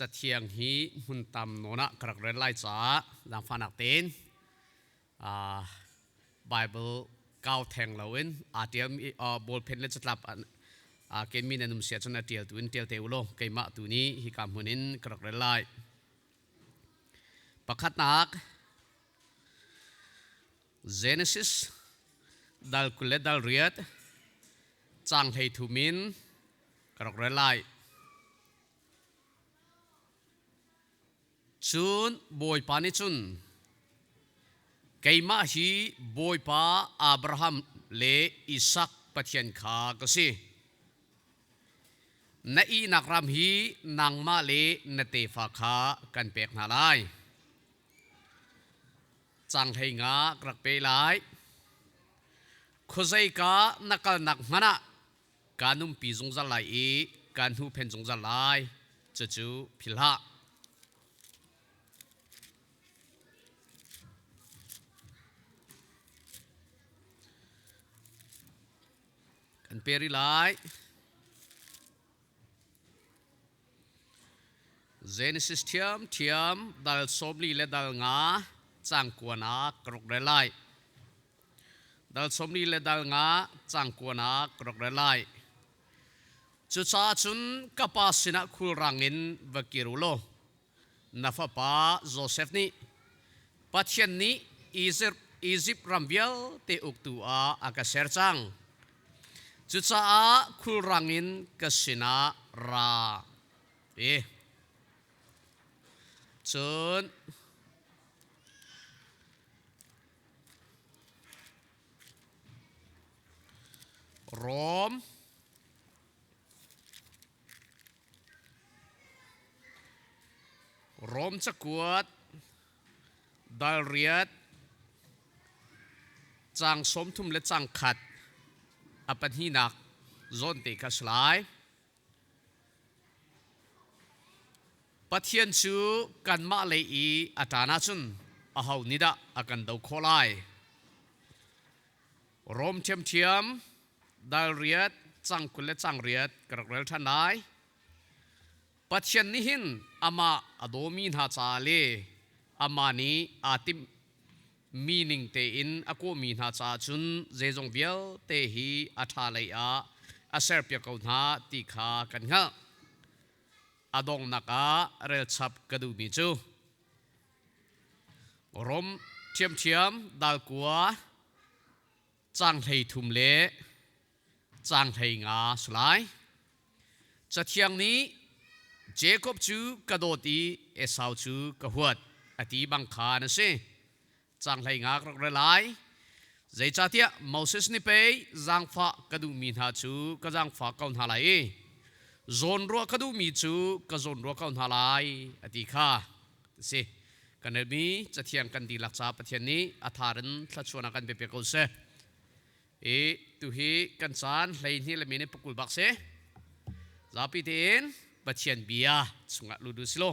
Cathiang hi hmuntam nawn ah ka rak rel lai caah zaangfahnak tein uh, Bible kau theng loin aa ṭial uh, ballpen le catlap uh, kenmi nan um sia cun a ṭial tu in ṭial te u law keimah tu ni hi ka hmun in ka rak rel lai pakhatnak Genesis dal kul le dal riat cang hlei thu min ka rak ra lai. Cun Bawipa nih cun keimah hi Bawipa Abraham le Isak Pathian kha ka si. Na ihnak ram hi nangmah le na tefa kha kan pek hna lai. cang hlei nga ka rak pe lai khuazei ka na kalnak hmanh ah kaa nunpi zungzal lai i kaa hnu phen zungzal lai cucu phil hlah kan pe ri lai Genesis ṭhiamṭhiam dal sawmli le dal nga cangkuan ah ka rak ra lai. Dal sawmli le dal nga cangkuan ah ka rak ra lai. Cucaah cun ka pa sinah khulrang in va kir u law Na fapa Josef nih Pathian nih Izipt ram vialte uktu ah a ka ser cang. Cucaah khulrang in ka sinah ra i cun Rom Rom cakuat dal riat cang sawmthum le cang khat a pahninak zawn te kha si lai. Pathian cu kanmah lei i a ṭan ahcun aho nih dah a kan do khawh lai? rom ṭhiamṭhiam dal riat cang kul le cang riat ka rak rel ṭhan lai pathian nih hin amah a dawmi hna ca le amah nih aa timh mi ning tein a kawhmi hna caah cun zeizong vialte hi a ṭha lei ah a serpiak ko hna ti kha kan hngalh a donghnak ah relchap ka duhmi cu Rom ṭhiamṭhiam dalkua cang hlei thum le cang hlei nga si lai. Cathiang nih Jakob cu ka dawt i Esau cu ka huat a ti bang khan a si. Cang hlei nga ka rak ra lai. Zeicahtiah Moses nih pei zaangfah ka duhmi hna cu ka zaangfah ko hna lai i zawnruah ka duhmi cu ka zawnruah ko hna lai a ti kha a si. Kan LB cathiang kan dihlak caah Pathian nih a thar in thluachuahnak kan pe ko seh. I tuhi kan caan hleihnih le minute pakul bak se. Zapi tein Pathian bia chungah ludu silo.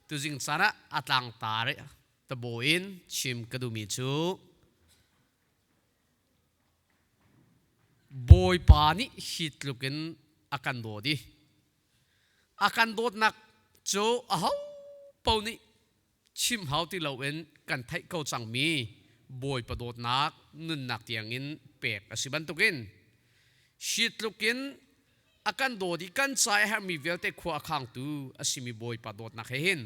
Tuzing caan ah atlang tare tabo in chim ka duhmi cu Bawipa nih hi tluk in a kan dawt i a kan dawtnak cu aho paoh nih chim hau ti loin kan theih ko cangmi bawipa dawtnak nunnak tiangin pek a si bantukin shi tlukin a kan dawt i kan ca i herhmi vialte khua a khangtu a simi bawipa dawtnak he hin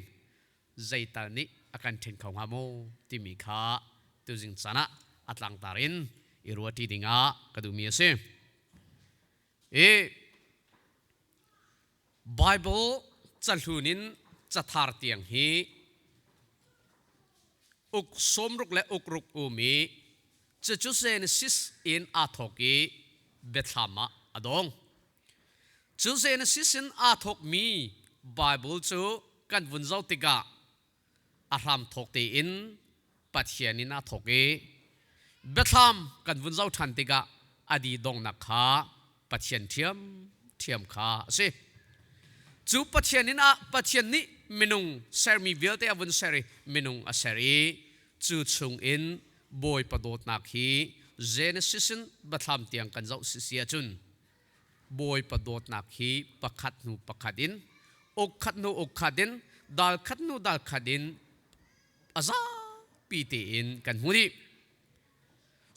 zeital nih a kan ṭhen kho hnga maw timi kha tuzing canah a tlangtar in i ruahṭi dingah ka duhmi a si. i Baibal cahlun in cathar tiang hi uk sawmruk le ukruk um i cucu Genesis in aa thawk i biathlam ah a dong. Cu Genesis in aa thawkmi Baibal cu kan vun zoh tikah a hram thawk tein Pathian in aa thawk i biathlam kan vun zoh ṭhan tikah a di donghnak kha Pathian ṭhiamṭhiam kha a si. Cu Pathian inn ah Pathian nih minung sermi vialte a vun ser i minung a ser i cu chung in Bawipa dawtnak hi Genesis in biathlam tiang kan zoh sisi ahcun Bawipa dawtnak hi pakhat hnu pakhat in uk khat hnu uk khat in dal khat hnu dal khat in a zapi tein kan hmu rih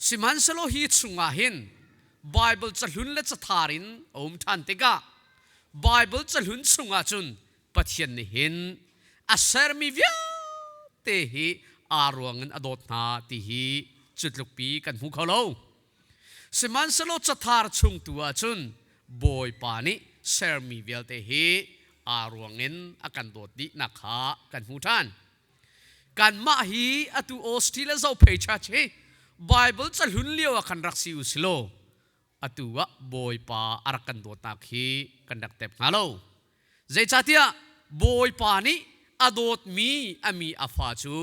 sihmanhsehlaw hi chungah hin Bible cahlun le cathar in a um ṭhan tikah Bible cahlun chungah cun Pathian nih hin a sermi vialte hi aa ruang in a dawt hna ti hi cu tlukpi kan hmu kho lo. Sihmanhsehlaw cathar chung tu ah cun Bawipa nih sermi vialte hi aa ruangin a kan dawt dihnak kha kan hmu ṭhan. Kanmah hi atu Australia zophei church hi Bible cahlun lio ah kan rak si u silaw atu ah Bawipa a rak kan dawtnak hi kan rak tep hnga lo. Zeicahtiah Bawipa nih a dawtmi a mi a fa cu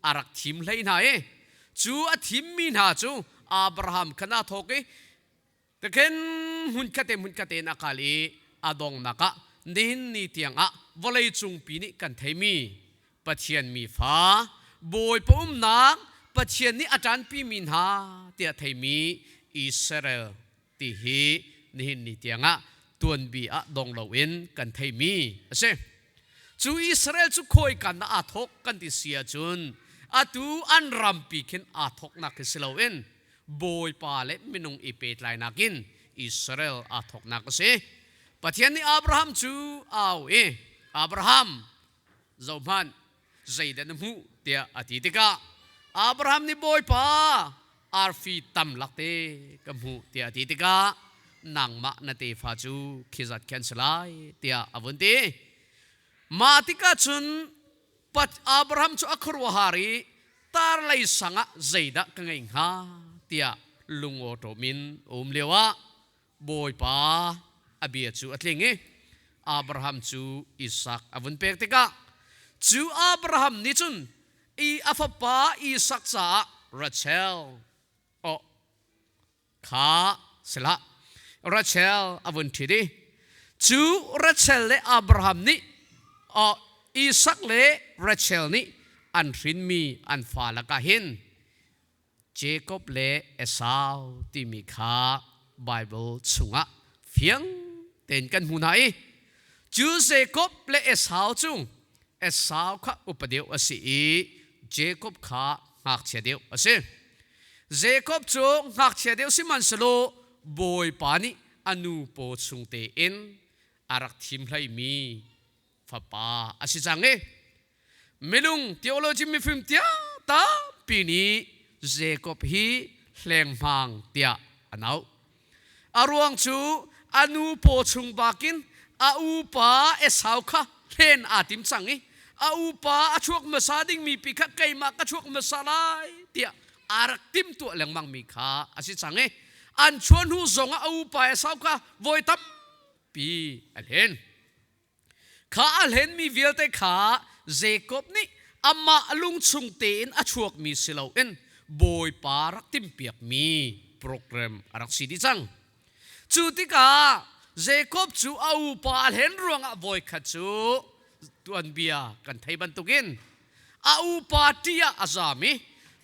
a rak thim hlei hna i cu a thimmi hna cu Abraham kha naa thawk i ka khin hmunkhat te hmunkhat te in a kal i a donghnak ah nihin ni tiangah vawleicung pi nih kan theimi Pathian mi fa Bawipa umnak Pathian nih a ṭanpi mi hna tiah theimi Israel ti hi nihin ni tiangah tuanbi ah dong loin kan theimi a si. Cu Israel cu khawikan ah aa thawk kan ti si ahcun atu an rampi khin aa thawknak hi si loin Bawipa le minung i pehtlainak in Israel aa thawknak a si. Pathian nih Abraham cu au i, Abraham, zohhmanh, zeidah na hmuh tiah a ti tikah Abraham nih bawipa arfi tam lak te ka hmuh tiah a ti tikah nangmah na tefa cu khizat khan si lai tiah a vun ti mah tikah cun Abraham cu a khuaruahar i tar lei sangah zeidah ka ngeih hnga tiah lungawṭawm in um lioah Bawipa a bia cu a tling i Abraham cu Isak a vun pek tikah cu Abraham nih cun i a fapa Isak caah Rachel aw kha silah Rachel a vun ṭhit i cu Rachel le Abraham nih aw Isak le Rachel nih an hrinmi an fa lakah hin Jakob le Esau timi kha Baibal chungah fiang tein kan hmu hna i cu Jakob le Esau cu Esau kha upa deuh a si i Jakob kha ngakchia deuh a si. Jakob cu ngakchia deuh sihmanhsehlaw Bawipa nih a nu paw chung tein a rak thim hleimi fapa a si cang i minung theology mifim tiah tampi nih Jacob hi hlengmang tiah an auh a ruang cu a nu paw chung bakin a upa Esau kha hlen aa tim cang i a upa a chuak hmasa dingmi pi kha keimah ka chuak hmasa lai tiah a rak timtuah lengmangmi kha a si cang i an chuah hnu zong ah a upa Esau kha voi tampi a hlen Kha a hlenmi vialte kha Jakob nih amah lungchung tein a chuakmi si loin Bawipa rak timpiakmi program a rak si dih cang. Cu tikah Jakob cu a upa a hlen ruangah voikhat cu tuanbia kan thei bantukin a upa ṭi ah a zam i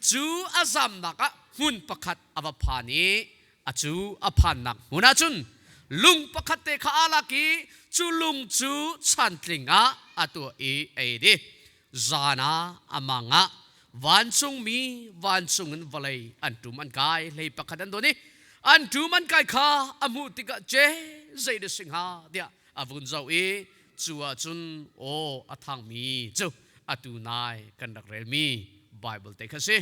cu a zamnak ah hmun pakhat a va phan i A cu a phannak hmun ah cun lung pakhatte kha aa lak i cu lung cu chantling ah a tuah i a ei dih. Zan ah a mang ah vancungmi vancung in vawlei an ṭum an kai, hlei pakhat an dawn i an ṭum an kai kha a hmuh tikah Jeh zei da si hnga tiah a vun zoh i cu ah cun aw a thangmi cu atu nai kan rak relmi Baibal te kha a si.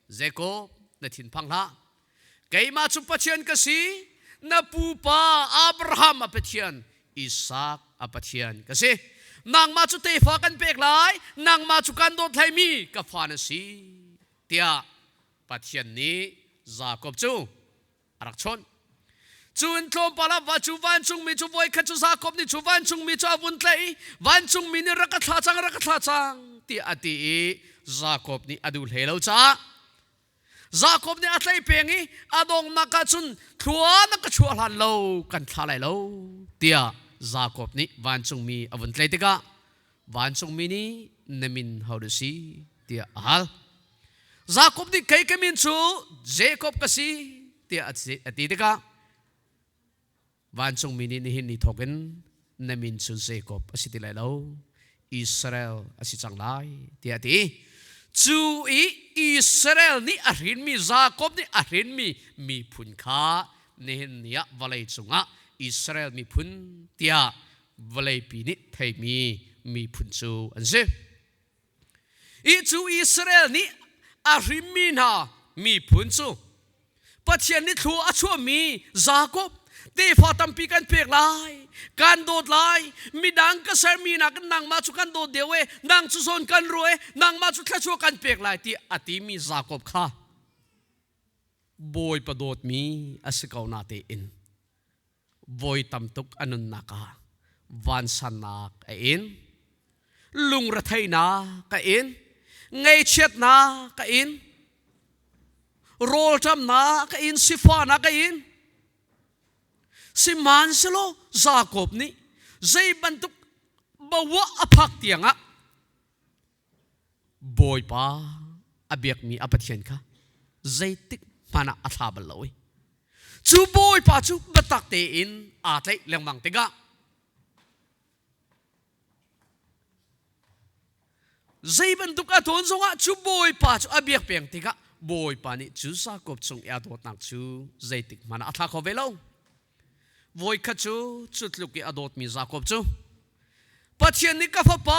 Zeikaw na thinphang hlah. Keimah cu Pathian ka si, na pupa Abraham a Pathian, Isak a Pathian ka si. Nangmah cu tefa kan pek lai, nangmah cu kan dawthlaimi ka fa na si, tiah Pathian nih Jakob cu a rak chawn. Cun tlawmpal ah va cu vancungmi cu voikhat cu Jakob nih cu vancungmi cu a vun tlaih i vancungmi nih rak ka thlah cang rak ka thlah cang tiah a ti i Jakob nih a duh hlei lo caah Jakob nih a tlaih peng i a donghnak ah cun thlua na ka chuah hlan lo kan thlah lai lo tiah Jakob nih vancungmi a vun tlaih tikah vancungmi nih na min ho na si tiah a hal Jakob nih kei ka min cu Jakob ka si tiah a ti tikah vancungmi nih nihin ni thawk in na min cu Jakob a si ti lai lo Israel a si cang lai tiah a ti cu i Israel nih a hrinmi Jakob nih a hrinmi miphun kha nihin ni ah vawlei cungah Israel miphun tiah vawleipi nih theimi miphun cu an si. Hi cu Israel nih a hrimmi hna miphun cu Pathian nih thlu a chuahmi Jakob tefa tampi kan pek lai kan dawt lai midang ka sermi nakin nangmah cu kan dawt deuh e nang cu zawn kan ru e nangmah cu thlachuah kan pek lai ti a timi Jakob kha bawipa dawtmi a si ko na tein voi tam tuk a nunnak ah vansannak a in lungretheihnak ka in ngeichiatnak ka in rawlṭamnak ka in sifahnak ka in sihmanhselaw Jakob nih zei bantuk bawa a phak tiangah Bawipa a biakmi a Pathian kha zeitik hmanh ah a thla bal lo i cu Bawipa cu biatak tein aa tlaih lengmang tikah zei bantuk a tawn zongah cu Bawipa cu a biak peng tikah Bawipa nih cu Jakob cung i a dawtnak cu zeitik hmanh ah a thla kho ve lo. Voikhat cu cu tluk i a dawtmi Jakob cu Pathian nih ka fapa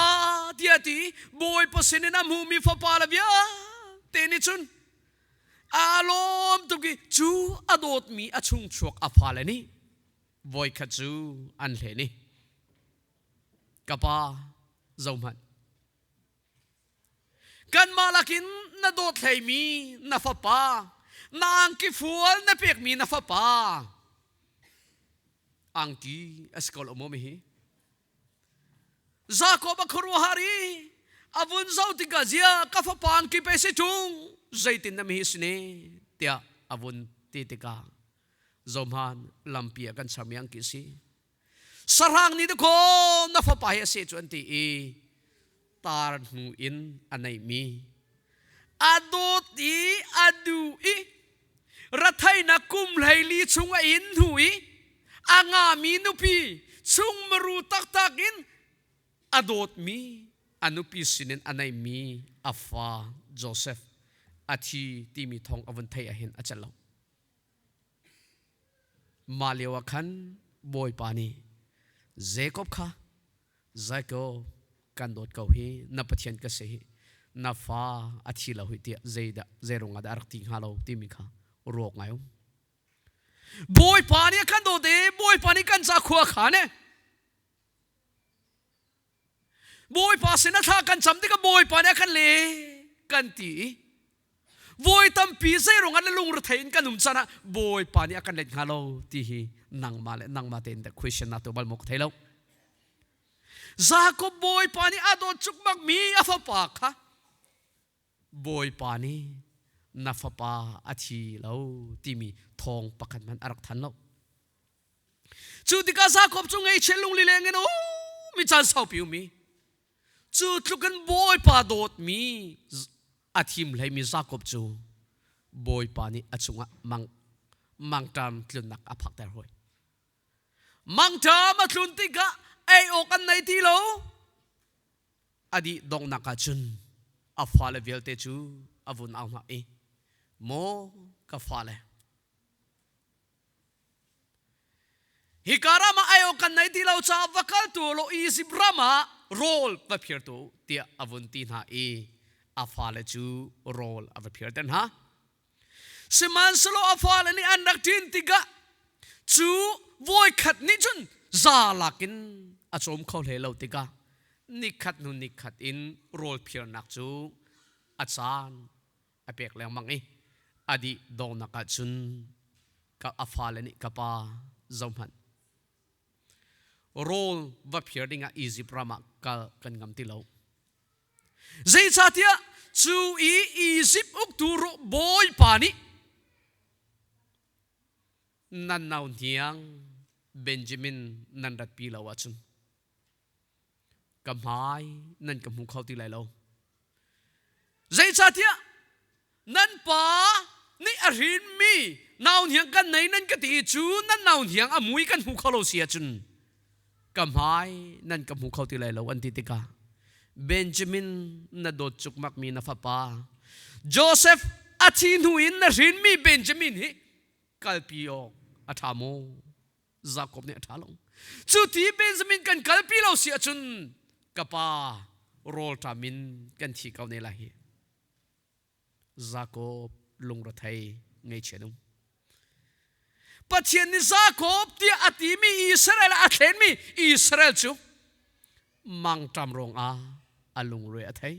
tiah a ti Bawipa sinin a hmuhmi fapale vialte nih cun aa lawm tuk i cu a dawtmi a chung chuak a fale nih voikhat cu an hlen i ka pa zohhmanh kanmah lakin na dawt hleimi na fapa na angki fual na pekmi na fapa angki asi ko lo maw mi hi jacob a khuaruahar i a vun zo tikah zia ka fapa angki pe si ṭung zeitin na mi hi sine tiah a vun ti tikah zomhan lampi a kan sermi angki si sahrang nih dakaw na fapa hi a se cu an ti i tar hnu in a neimi a dawt i a du i rathainak kum hleili chung a in hnu i a ngami nupi chung maru taktak in a dawtmi a nupi sinin a neimi a fa Joseph a thi timi thong a vun thei ahin a cello mah lioah khan bawipa nih Jakob kha Jakob kan dawt ko hi na pathian ka si hi na fa a thi lo hi tiah zeidah zeiruang ah dah a rak ti hnga lo timi kha ruak ngai um bawipa nih a kan dawt i bawipa nih kan cakhua kha ne Bawipa sin a thla kan cam tikah Bawipa nih a kan le kan ti voi tampi zeirung an le lungrethei in kan um canah Bawipa nih a kan let hnga lo ti hi nangma le nangma tein the question na tu bal mok thei lo Jacob Bawipa nih a dawt chukmak mi a fapa kha Bawipa nih na fapa a thi lo timi thong pakhat man a rak than lo Cu tikah Jakob cu ngeichiat lungli leng in oh mi caan saupi um mi cu tlukin bawipa dawtmi a thim hlei mi Jakob cu bawipa nih a chungah mang mangṭam tlunnak a phakter hoi mangṭam a tlun tikah ei awk an nei ti lo a dih donghnak ah cun a fale vialte cu a vun au hna i maw ka fale Hika ram ah aiawh kan nei ti lo caah va kal tu law Izipt ram ah rawl va phir tu tiah a vun ti hna i a fale cu rawl a va phir te hna. Sihmanhsehlaw a fale nih an rak ṭin tikah cu voi khat nih cun za lakin a cawm kho hlei lo tikah nikhat hnu nikhat in rawl phirnak cu a caan a pek lengmang i a dih dawnak ah cun ka a fale nih ka pa zohhmanh rawl va phir ding ah Egypt ram ah kal kan ngam ti lo zeicahtiah cu i Egypt uktu bawipa nih nan nau hniang Benjamin nan ratpi lo ahcun ka hmai nan ka hmu kho ti lai lo zeicahtiah nan pa nih a rinmi nau hniang kan nei nan ka ti i cu nan nau hniang a mui kan hmu kho lo si ahcun ka hmai nan ka hmu kho ti lai lo an ti tikah benjamin na dawt cukmakmi na fapa joseph a thi hnu in na hrinmi benjamin hi kalpi awk a ṭha maw Jakob nih a ṭha lo cu ti Benjamin kan kalpi lo si ahcun ka pa rawlṭam in kan thi ko ne lai hi Jakob lungrethei ngeichian um Pathian nih Jakob tiah a timi Israel a thlenmi Israel cu mangṭam ruangah a lungre a thei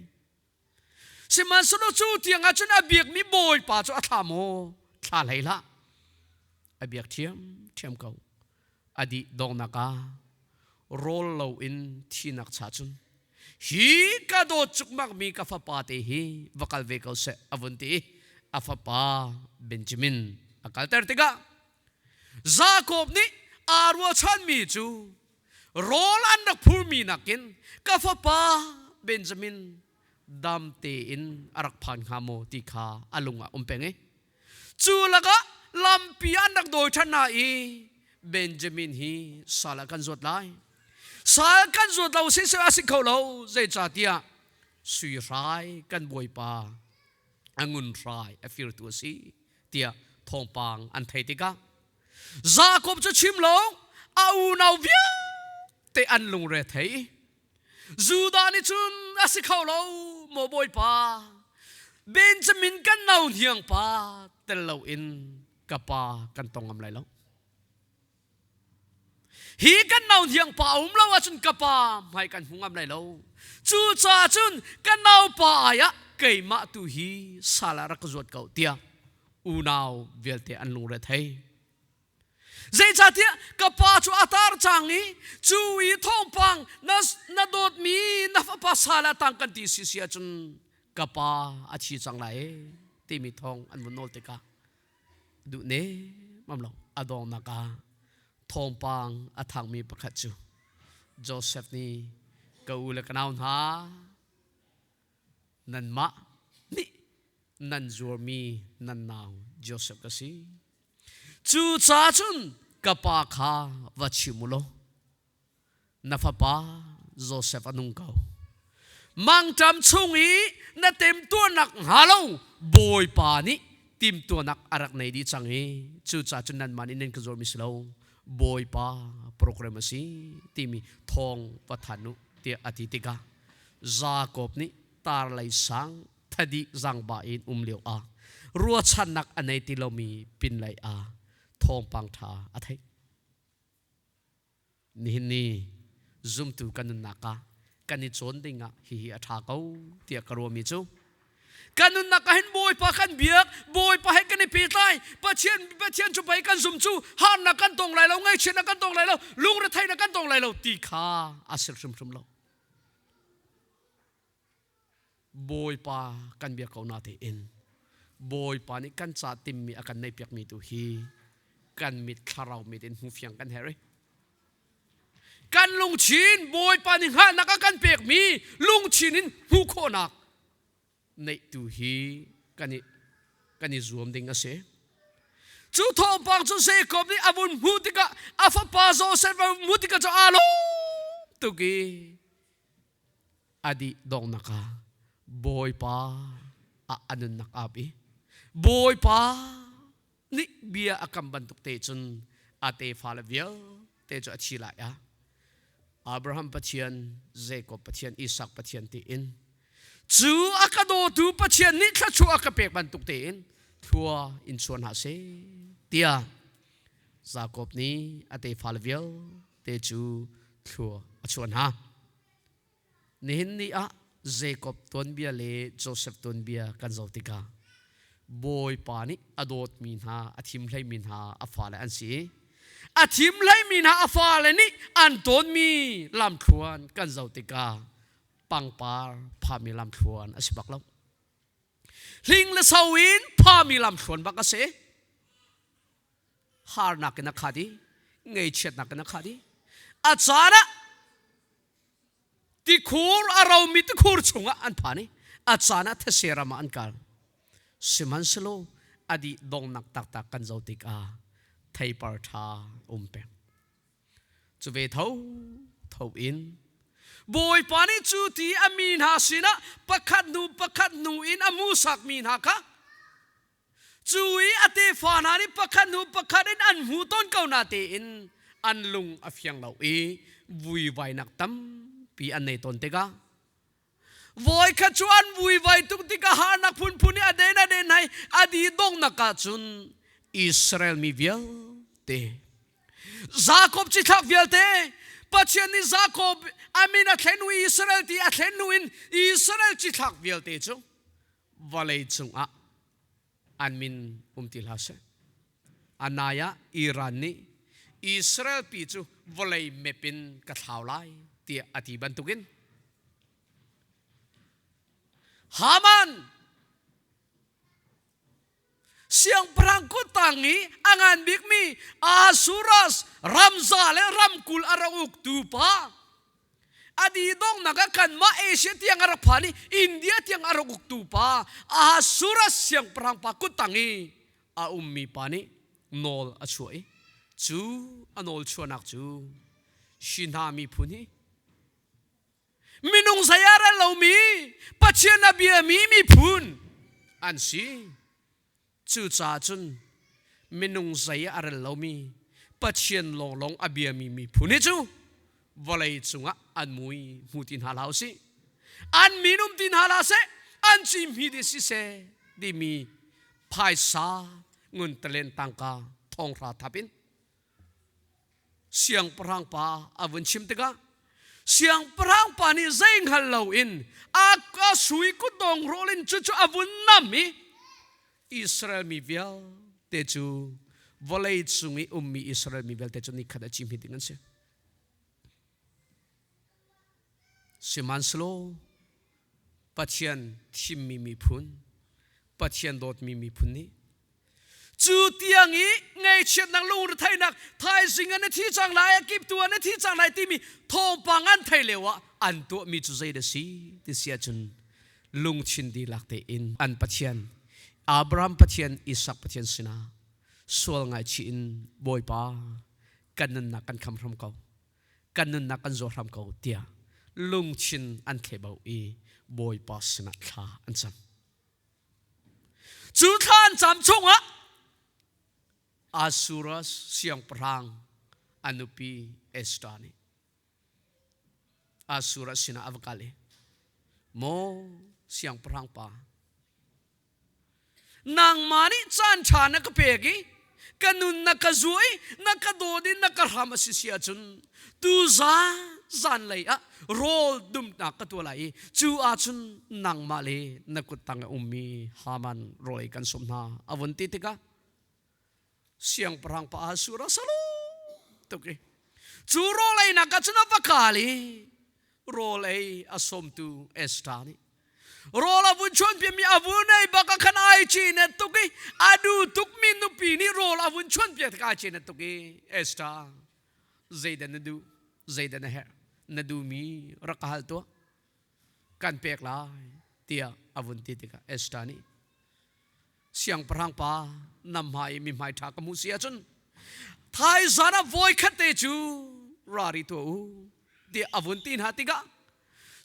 Sihmanhsehlaw cu tiangah cun a biakmi Bawipa cu a thla maw thla hlei hlah a biak thiam thiam ko a dih donghnak ah rawl lo in thinak cha cun hi ka dawt cukmakmi ka fapa te hi va kal ve ko seh a vun ti a fapa Benjamin a kalter tikah Jakob nih aa ruachanmi cu rawl an rak phurmi nakin ka fapa Benjamin damte in a rak phan hnga maw ti kha a lungah um peng i cu lakah lampi an rak dawi ṭhan hna i Benjamin hi sal ah kan zuat lai sal kan zuat lo si a si kho lo zeicahtiah sui hrai kan bawipa a ngun hrai a firtu a si tiah thawngpang an thei tikah Jacob cu chim lo a unau vialte an lungre thei Judah nih cun a si kho lo maw bawipa Benjamin kan no hniang pa tel lo in ka pa kan tong ngam lai lo hi kan no hniang pa a um lo ahcun ka pa hmai kan hmu ngam lai lo cu ca cun ka naupa ai ah keimah tu hi sal ah rak ka zuat ko tiah unau vialte an lungre thei zeicahtiah ka pa cu a tar cang i cu i thawngpang na na dawtmi na fapa sala tang kan ti si si ahcun ka pa a thi cang lai timi thawng an vun nawl tikah duh ne mam lo a dawngnak ah thawngpang a thangmi pakhat cu Joseph nih ka u le ka nau hna nanmah nih nan zuarmi nan nau Josef ka si. Cu ca cun ka pa kha va chim u law na fapa Josef a nung ko. Mangṭam chung i na temtuarnak hnga lo Bawipa nih timtuanak a rak nei dih cang i cucaah cun nanmah nih nan ka zuarmi si lo Bawipa program a si timi thawng va thanh u tiah a ti tikah Jacob nih tar lei sang thadi zangba in um lio ah ruachannak a nei ti lomi pin lei ah thawngpang ṭha a theih. Nihin ni zumtu kan nunnak ah kan i cawn ding ah hihi a ṭha ko tiah ka ruahmi cu kan nunnak ah hin bawipa kan biak bawipa he kan i pehtlai pathian pathian cu pei kan zum cu harnak kan tong lai lo ngaihchiatnak kan tong lai lo lungretheinak kan tong lai lo ti kha a sir hrimhrim lo Bawipa kan biak ko na tiin Bawipa nih kan ca timmi a kan neihpiakmi tu hi kan mit thlarau mit in hmu fiang kan herh i kan lungthin Bawipa nih hngahnak a kan pekmi lungthin in hmuh khawhnak neihtu hi kan i kan i zuam ding a si cu thawngpang cu Jacob nih a vun hmu tikah a fapa Joseph a hmu tikah cu alo tuki adi dongnaka ah bawipa a anunnak ap i bawipa nih bia a kam bantuk te cun a tefale vialte cu a thi lai a Abraham Pathian Jacob Pathian Isak Pathian tiin cu a ka dawtu Pathian nih thluachuah a ka pek bantuk tein thlua in chuan hna se tiah Jacob nih a tefale vialte cu thlua a chuan hna Nihin ni ah Jacob tuanbia le Joseph tuanbia kan zoh tikah Bawipa nih a dawtmi hna a thim hleimi hna a fale an si i a thim hleimi hna a fale nih an tawnmi lamthluan kan zoh tikah pangpar phami lamthluan a si bak lo hling le so in phami lamthluan bak a si harnak in a khat i ngeichiatnak in a khat i a caan ah Tikhur a romi tikhur chungah an phan i a caan ah these ram ah an kal. Sihmanhselaw a dih dongnak taktak kan zo tikah theipar ṭha um peng. Cu ve tho tho in Bawipa nih cu ti a mi hna sinah pakhat hnu pakhat hnu in a musak mi hna kha cu i a tefa hna nih pakhat hnu pakhat in an hmu tawn ko na tein an lung a fiang lo i vuivainak tampi an nei tawn tikah voi khat cu an vuivai tuk tikah harnak phunphun i a den a den hai a di dongnak ah cun Israel mi vialte Jakob cithlak vialte Pathian nih Jakob a min a thlen u Israel ti a thlen hnu in Israel cithlak vialte cu vawlei cungah an min um ti hlah seh. Anai ah Iran nih Israel pi cu vawlei map in ka thlau lai tiah a ti bantukin Haman siangpahrang kuttang i a ngan bikmi Asuras ramza le ramkul a ra uktu pa a didongnak ah kan mah Asia tiang a rak phan i India tiang a rak uktu pa Ahasuras siangpahrang pa kuttang i a ummi pa nih nawl a chuah i cu a nawl chuahnak cu Shina miphun hi minung saya a ral lomi pathian a biami miphun an si cucaah cun minung zei a rel lomi pathian lawnglawng a biami miphun hi cu vawlei cungah an mui hmu ti hna la u sih an minum ti hna la seh an cimhi di si seh timi phaisa ngun talen tangka thonghra thap in Siangpahrang pa a vun chim tikah siangpahrang pa nih zei hngal loin a, a sui kutdong rawl in cucu a vun nam i Israel mi vialte cu vawlei cung i ummi Israel mi vialte cu ni khat a cihmit ding an si. Sihmanhselaw Pathian thimmi miphun, Pathian dawtmi miphun nih cu tiang i ngaichiatnak lungretheinak thaizing an i thi cang lai kiptu an i thi cang lai timi thawngpang an thei leo ah an tuahmi cu zei da si ti si ahcun lungthin dihlak tein an Pathian Abraham Pathian Isak Pathian sinah sual ngaichih in Bawipa kan nunnak kan kham hram ko kan nunnak kan zuar hram ko tiah lungthin an thlebau i Bawipa sinah thla an cam. Cu thla an cam chungah Asuras siangpahrang a nupi Esther nih Asuras sinah a va kal i, Maw siangpahrang pa, nangmah nih caanṭha na ka pek i ka nun na ka zuah i na ka dawt i na ka hram a si si ahcun tu zan lei ah rawl dumnak ka tuah lai i cu ahcun nangmah le na kut tang a ummi Haman rawl ei kan sawm hna a vun ti tikah siangpahrang pa ah sur a salo tuk i cu rawl ei nak cun a va kal i rawl ei a sawmtu Esther nih rawl a vun chuan piami a vun ei baka khan ai chi net tuk i a du tukmi nupi nih rawl a vun chuan pia ka chi net tuk i Esther zeidan na du zeidan na herh na du mi rak ka hal tuah kan pek lai tiah a vun ti tikah Esther nih siangpahrang pa nam hma i mi hmai ṭha ka hmuh si ahcun thaizan ah voi khat te cu rari tuah u tiah a vun ti hna tikah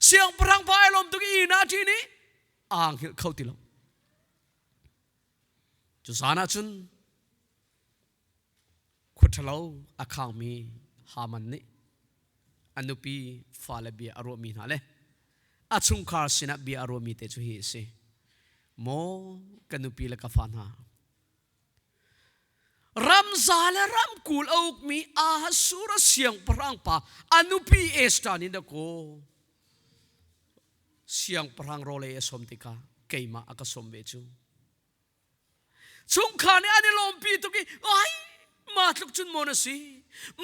siangpahrang pa ai lawm tuk i na ṭi nih aa hngilh kho ti lo cu zan ah cun Khuaṭhalo a khangmi Haman nih a nupi fale bia a ruahmi hna le a chungkhar sinah bia a ruahmi te cu hi a si. Maw ka nupi le ka fa hna, ramza le ramkul a ukmi Ahasur a siangpahrang pa a nupi Esther nih na kaw siangpahrang rawlei a sawm tikah keimah a ka sawm ve cu. chungkhar nih an i lawmpi tuk i ai ma tluk cun maw na si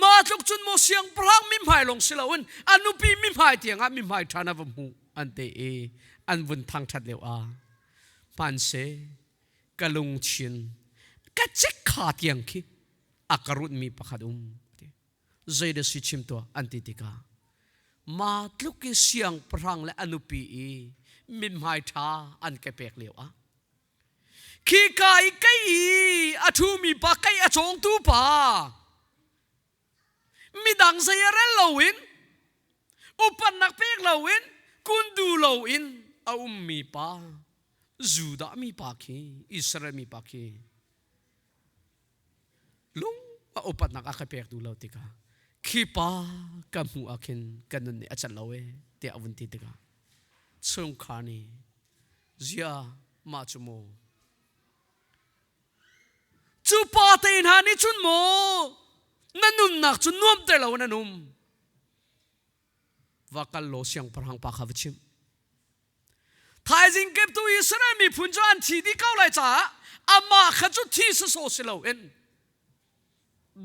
ma tluk cun maw siangpahrang mi hmai lawng si loin a nupi mi hmai tiangah mi hmai ṭhan a va hmuh an te i an vun thang ṭhat leu a hmanse ka lungthin ka cek kha tiang khi a ka runmi pakhat um ati zei da si chim tuah an ti tikah ma tluk i siangpahrang le a nupi i mi hmai ṭha an ke pek lio ah khika i kei i a ṭhumi pa kei a cawngtu pa midang zei a rel loin upatnak pek loin kun du loin a ummi pa Judah mi pa khi Israel mi pa khi lung a upatnak a ka pektu lo tikah khi pa ka hmu ah khin kan nun nih a can lo e tiah a vun ti tikah chungkhar nih zia mah cu maw cu pa te hna nih cun maw na nunnak cu nuam te lo in an um va kal law siangpahrang pa kha va chim thaizing keptu Israel miphun cu an thi dih ko lai caah amah kha cu thi saso si loin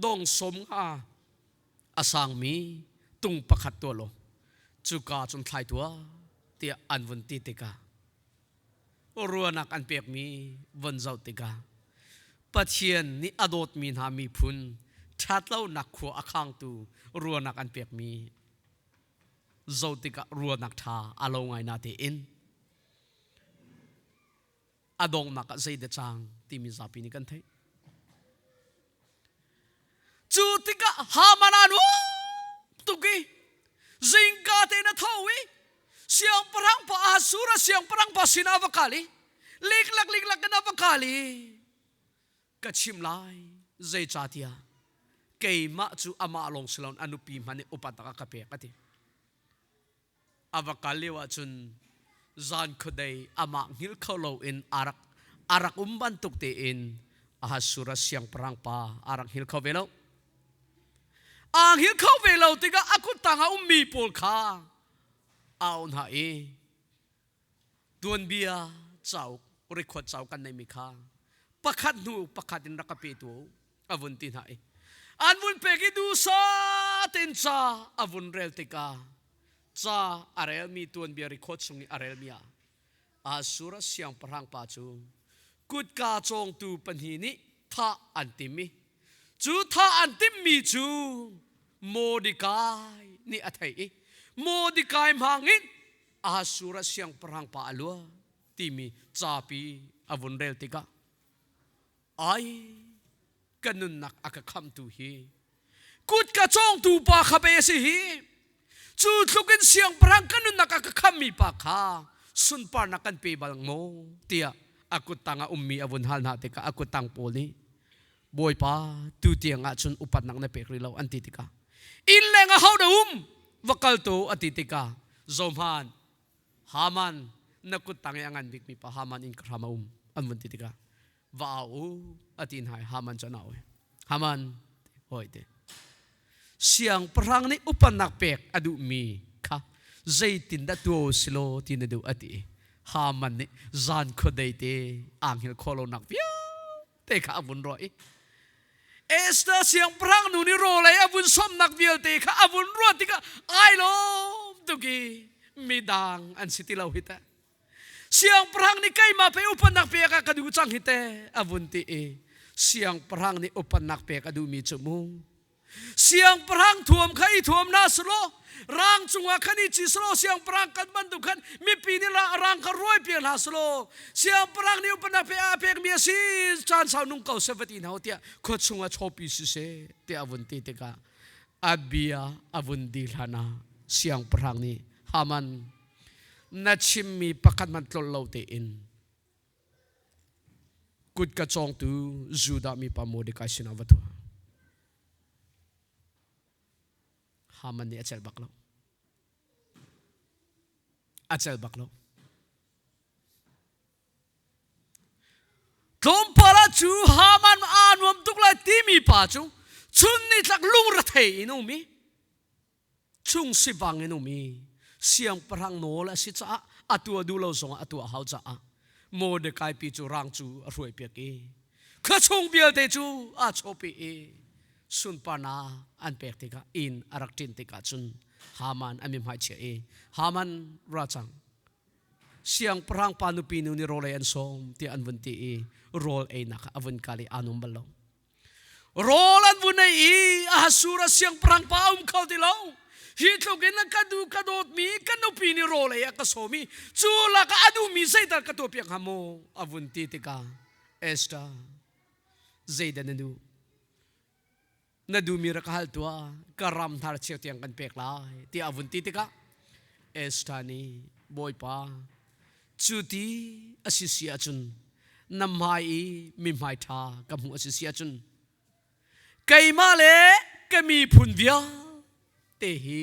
dong som nga a sangmi tung pakhat tua law cuka cun thlai tua tiah an vun ti tikah ruahnak an pekmi von zoh tikah Pathian nih a dawtmi hna miphun ṭhatlonak khua a khangtu ruahnak an pekmi zoh tikah ruahnak ṭha a lo ngai na tein a donghnak ah zeidah cang timi zapi nih kan theih. Cu tikah Haman an um tuk i zingka tein a tho i siangpahrang pa Assur a siangpahrang pa sinah a va kal i liklak liklak in a va kal i ka chim lai zeicahtiah keimah cu amah lawng si loin a nupi hmanh nih upat nak a ka pek a ti. a va kal lio ahcun zan khuadei amah hngilh kho loin a rak a rak um bantuk tein Ahasur a siangpahrang pa a rak hngil kho ve lo aa hngil kho ve lo tikah a kut tang a ummi pawl kha a auh hna i tuanbia cauk record cauk kan neimi kha pakhat hnu pakhat in rak ka pe tu a vun ti hna i an vun pek i dusa ten ca a vun rel tika ca a relmi tuanbia record chung i a relmi ah asura siangpahrang pa cu kutka cawngtu pahnih nih thah an tim i cu thah an timmi cu Mordecai nih a thei i Mordecai hmang in Ahashur ah siangpahrang pa a luah timi capi a vun rel tikah ai ka nunnak a ka khamtu hi kut ka cawngtu pa kha pe a si hi cu tluk in siangpahrang ka nunnak a ka khammi pa kha sunparnak kan pe bal maw tiah a kuttang a ummi a vun hal hna tikah a kuttang pawl nih bawipa tu tiang ah cun upatnak na pek rih lo an ti tikah inn leng ah hau da um va kal tu a ti tikah zohman haman na kut tang i a ngan bikmi pa haman in ka hram a um an vun ti tikah va au u a ti hna haman cu an au haman hoi te siang pahrang nih upatnak pek a duhmi kha zeitin dah tuo silo ti na duh a ti haman nih zan khuadei te aanghil khawlonak vial te kha a vun ruah i Esther siangpahrang nu nih rawlei a vun somnak vialte kha a vun ruat tikah ai lawm tuki midang an si ti lo hi teh siangpahrang nih keimah pe upannak pek ah ka duh cang hi te a vun ti i siangpahrang nih upannak pek a duhmi cu mu siangpahrang thuam kha i thuam na selaw rang cungah khan i chi selaw siangpahrang kan bantuk khan mipi nih rang kha ruai piak hna selaw siangpahrang nih upanak pe a pekmi a si caan sau nung ko sevati na ho tiah khua chungah chopi si se te a vun ti tikah abia a vun di hlan ah siangpahrang nih haman na chimmi pakhat hmanh tlol lo tein Kut ka cawngtu Judah mipa Mordecai sinah va tu. Haman nih a cel bak lo. A cel bak lo. Tlawmpal ah cu Haman aa nuam tuk lai timi pa cu chun ni tlak lungre thei in um i chung si bang in um i siangpahrang nawl a si caah a tua duh lo zongah a tuah hau caah Mordecai pi cu rang cu a hruai piak i khua chung vialte cu a chawpi i sunparnak an pek tikah inn a rak ṭin tikah cun Haman a mihmai chia i Haman racang siangpahrang pa nupi nu nih rawl ei an sawm tiah an vun ti i rawl einak a vun kal i aa nuam bal lo rawl an vun ei i a hasur a siangpahrang pa a um kho ti lo hi tluk in ka du ka dawtmi ka nupi nih rawl ei a ka sawm i cu lak a duhmi zeital ka tuah piak hnga maw a vun ti tikah Esther zeidan na duh na duhmi ra ka hal tuah ka ram hnar cheu tiang kan pek lai ti a vun ti tikah Esther nih bawipa Cu ti a si si ahcun na hmai i mihmai ṭha ka hmuh a si si ahcun keimah le ka miphun vialte hi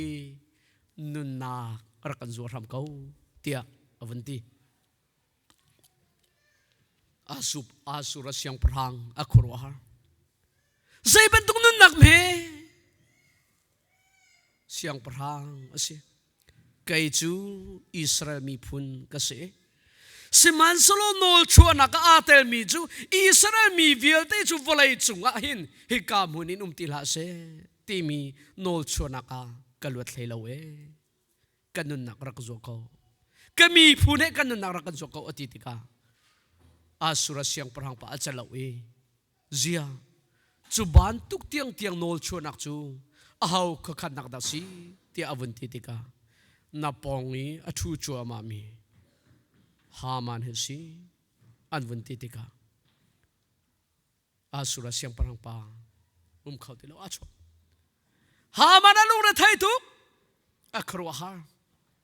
nunnak rak kan zuar hram ko tiah a vun ti. Asup asur a siangpahrang a khuaruahar. Zei bantuk nunnak hme siangpahrang a si. kei cu Israel miphun ka si sihmanhsehlaw nawlchuahnak ah aa telmi cu Israel mi vialte cu vawlei cungah hin hika hmun in um ti hlah seh timi nawlchuahnak ah ka luat hlei lo e ka nunnak rak zuo ko ka miphun he ka nunnak rak kan zuo ko a ti tikah asura siangpahrang pa a calo i zia cu bantuk tiangtiang nawlchuahnak cu aho khakhatnak dah si tiah a vun ti tikah na pawng i a thu cuahmahmi Haman hi si an vun ti tikah asura siangpahrang pa um kho ti lo a chuak Haman a lungre thei tuk a khuaruahhar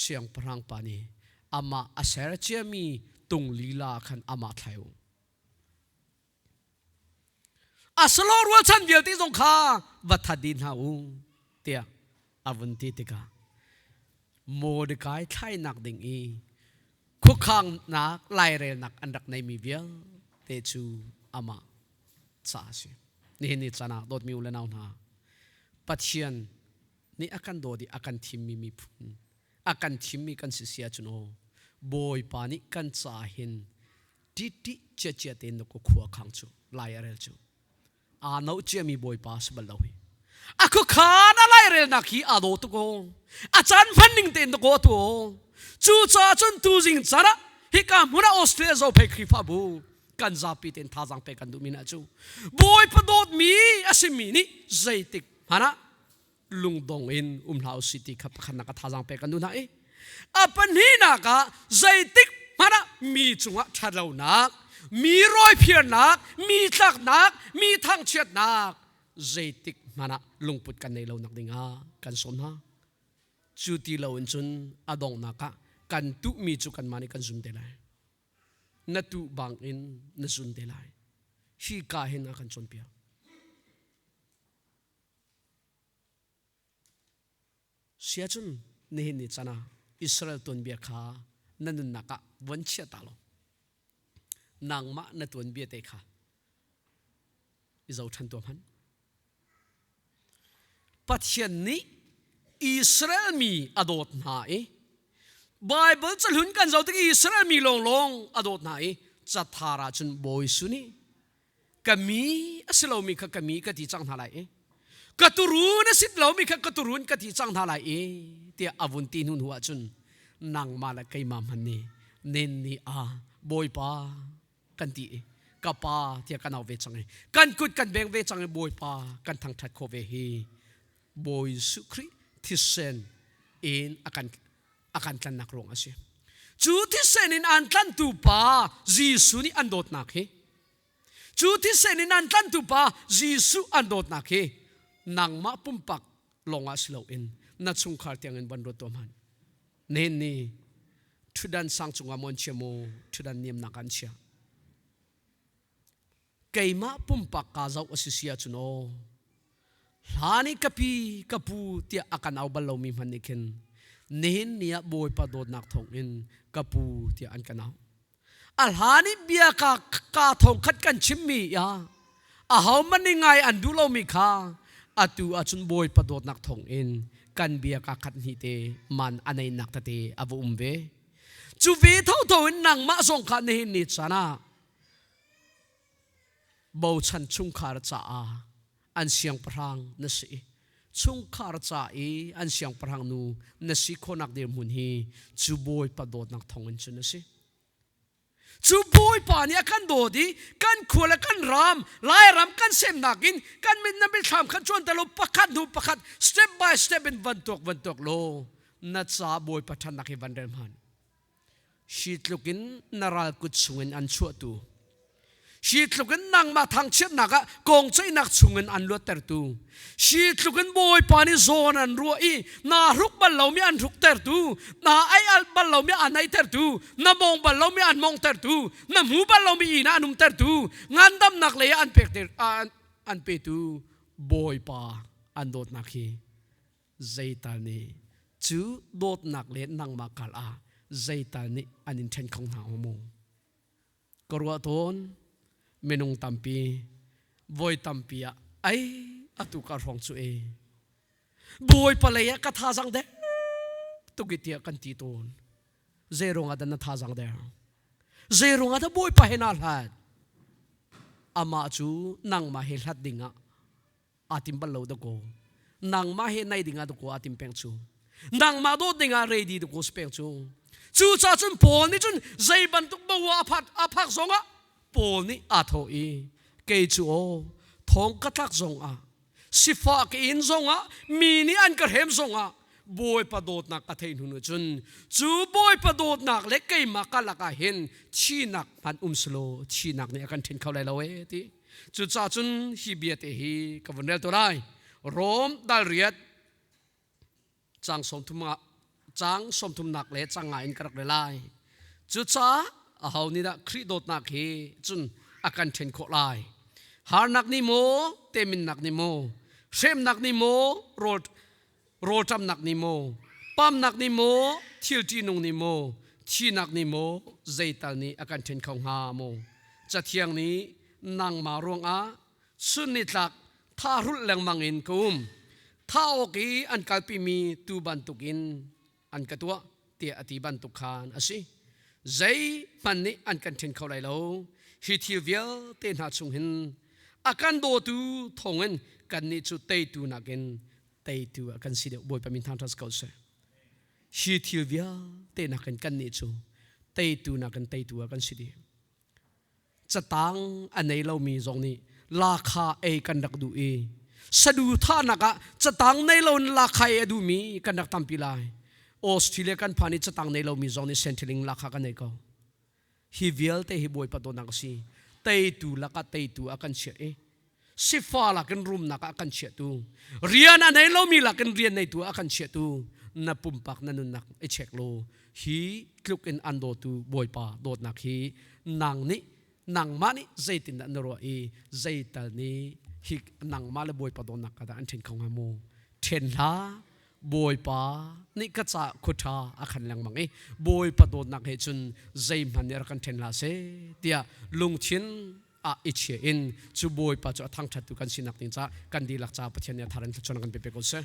siangpahrang pa nih amah a ser ciami tung lila khan amah thlai u a salo rualchan vialte zong kha va that din hna u tiah a vun ti tikah Mordecai thlainak ding i khukhangnak lairelnak an rak neimi vialte cu amah ca a si nihin ni canak dawtmi u le nau hna Pathian nih a kan dawt i a kan thimmi miphun, a kan thimmi kan si si ahcun aw Bawipa nih kan caah hin ṭiṭi ciacia tein na khukhua khang cu lai a rel cu aa no ciami Bawipa a si bal lo hi. A khuakhan a lairelnak hi aa daw tuk aw a caan hmanning tein na kaw tu aw cucaah cun tuzing caan ah hika hmun ah Australia zophei Khrihfabu kan zapi tein thazaang pe kan duhmi hna cu Bawipa dawtmi a simi nih zeitik hmanh ah lungdong in um hlah usih ti kha pakhatnak a thazaang pek kan duh hna i a pahnihnak ah zeitik hmanh ah mi cungah ṭhatlonak mi rawiphiarnak mi tlaknak mi thangchiatnak zeitik hmanh ah lungput kan nei lo nak dingah kan sawm hna cu ti lo in cun a donghnak ah kan tuhmi cu kanmah nih kan zum te lai na tuh bang in na zun te lai hi ka hin a kan cawnpiak Siacun nihin ni can ah Israel tuanbia kha na nunnak ah von chiah ta law nangmah na tuanbia te kha i zoṭhan tuah hmanh. Pathian nih Israel mi a dawt hna i Baibal cahlun kan zoh tik Israel mi lawnglawng a dawt hna i cathar ah cun Bawi Suni ka mi a si lomi kha ka mi ka ti cang hna lai i ka turu na sit lomi kha ka turun ka ti cang hna lai i tiah a vun ti hnu hnu ah cun nangmah le keimah hman ni nen ni ah bawipa kan ti i ka pa tiah kan au ve cang i kan kut kan beng ve cang i bawipa kan thangthat kho ve hi bawi Jesuh Khrih thisen in a kan a kan tlannak ruang a si cu thisen in an tlantu pa Jesuh nih an dawtnak hi cu thisen in an tlantu pa Jesuh an dawtnak hi nangmah pumpak lawngah si loin na chungkhar tiangin van ruat tuah hman nen ni ṭhudan sang cungah mon chia mu ṭhudan niamnak an chia keimah pumpak ka zoh a si si ahcun aw hla nih ka pi ka pu tiah a kan au bal lomi hmanh nih khin nihin ni ah bawipa dawtnak thawng in ka pu tiah an kan au a hla nih bia ka ka thongkhat kan chimmi ya a homan nih ngai an duh lomi kha atu ahcun bawipa dawtnak thawng in kan bia ka khat hni te man aneinak tete a va um ve cu ve tho tho in nangmah zong kha nihin ni chan ah bochan chungkhar caah an siangpahrang na si chungkhar ca i an siangpahrang nu na si khawnak dirhmun hi cu bawipa dawtnak thawngin cun a si cu bawipa nih a kan dawt i kan khual le kan ram lairam kan semnak in kan mit na mitthlam khan chuan talo pakhat hnu pakhat step by step in van tuak van tuak law na ca bawipa ṭhannak hi van rel hman Hi tluk in na ral kut chungin an chuahtu, hi tluk in nangmah thangchiatnak ah kong ceihnak chungin an luattertu, hi tluk in Bawipa nih zawn an ruah i na hruk bal lomi an hruktertu, na ei al bal lomi an eitertu, na mawng bal lomi an mawngtertu, na hmu bal lomi inn ah an umtertu, ngandamnak lei ah an pek an petu Bawipa an dawtnak hi Zeital nih cu dawtnak le nangmah kal ah zeital nih an in ṭhen kho hna hnga mu? Ka ruah tawn, minung tampi, voi tampi ah ei atu ka hrawng cu ei. Bawipa lei ah ka thazang dek tuk i tiah kan ti tawn. Zei ruangah dah na thazang der? Zei ruangah dah Bawipa he naa hlat? Amah cu nangmah he hlat ding ah aa tim bal lo da ko nangmah he nai dingah da ko aa tim peng cu nangmah dawt dingah ready da ko si peng cu cu ca cun paul nih cun zei bantuk bawa a phak a phak zongah paul nih aa tho i kei cu aw thong ka tlak zongah sifah ka in zongah mi nih an ka hrem zongah bawipa dawtnak ka thei hnu cun cu bawipa dawtnak le keimah ka lakah hin thihnak hman um silo thihnak nih a kan ṭhen kho lai lo e ti Cucaah cun hi biate hi ka vun rel to lai. Rom dal riat cang sawmthum ah cang sawmthumnak le cang nga in ka rak rel lai. Cucaah aho nih dah Khrih dawtnak hi cun a kan ṭhen khawh lai. Harnak nih maw, teminnak nih maw, hremnak nih maw rawl rawlṭamnak nih maw pamnak nih maw thil ṭihnung nih maw thihnak nih maw zeital nih a kan ṭhen kho hnga maw cathiang nih nangmah ruangah sunnitlak thahrulh lengmang in ka um thah awk i an kalpimi tu bantukin an ka tuah tiah a ti bantuk khan a si zeihmanh nih an kan ṭhen kho lai lo hi thil vialte hna chung hin a kan dawtu thawngin kannih cu teitu nakin teitu a kan si deuh bawipa min thang ṭhas ko seh hi thil vialte nakin kannih cu teitu nakin teitu a kan si dih catang a nei lomi zong nih lakha ei kan rak duh i saduthahnak ah catang nei lo in lakha ei a duhmi kan rak tampi lai australia kan phan i catang nei lomi zong nih centerling lakha kan ei ko hi vialte hi bawi patawnak a si teitu lakah teitu a kan chiah i sifa lakin rumnak ah kan chiahtu rian a nei lomi lakin rian neitu ah kan chiahtu na pumpak na nunnak i check law hi tluk in an dawtu bawipa dawtnak hi nang nih nangmah nih zeitin dah na ruah i zeital nih hi nangmah le bawipa dawtnak ka dah an ṭhen kho hnga mu ṭhen hla bawipa nih ka ca khuṭha a khan lengmang i bawipa dawtnak he cun zeihmanh nih rak kan ṭhen hla se tiah lungthin ah i chia in cu bawipa cu a thangṭhattu kan sinak ding caah kan dihlak caah Pathian nih a thar in thluachuahnak kan pe ko seh.